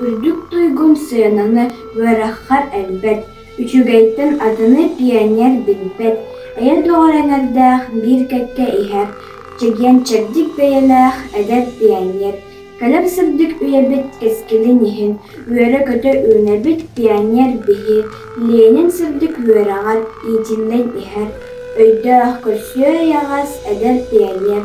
Үрдүк туйгун сыананы үөрэххэр элбэт, үчүгэйтэн атыны пионер билбэт, эйэ доҕор эҥэрдээх, биир кэккэ иһэр, чэгиэн чэбдик бэйэлээх эдэр пионер. Кэлэр сырдык үйэбит кэскилин иһин үөрэ-көтө үүнэбит пионер биһи Ленин сырдык үөрэҕэр иитиллэн иһэр, өйдөөх, көрсүө эйэҕэс эдэр пионер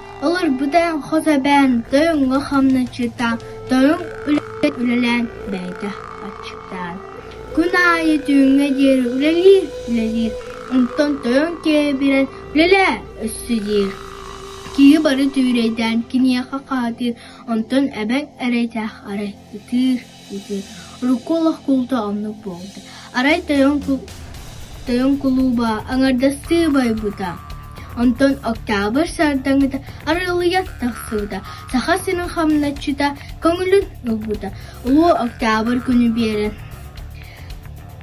Олорбута хос эбээн тоьоҥҥо хамначчыта, тоьоҥ үлэлээн бэйэтэ аччыктаан, күн аайы түүҥҥэ диэри үлэлиир, үлэлиир, онтон тоьоҥ кээбирэн үлэлээ өссө диир. Киһи бары түүрэйдээн киниэхэ хаатыыр, онтон эбэҥ эрэйдээх арай ытыыр Урукку олох куулта оннук буолбут. Арай тойон кул- тойон кулууба аҥардастыы байбыта. Онтон Октябрь сардаҥыта арылыйан тахсыбыта. Саха сирин хамначчыта көҥүлүн ылбыта. Улуу Октябрь күнү биэрэн.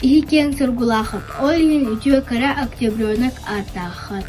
Иһикиэн Сургулаахап, ол иһин үтүө кыра октябренок ааттааххат.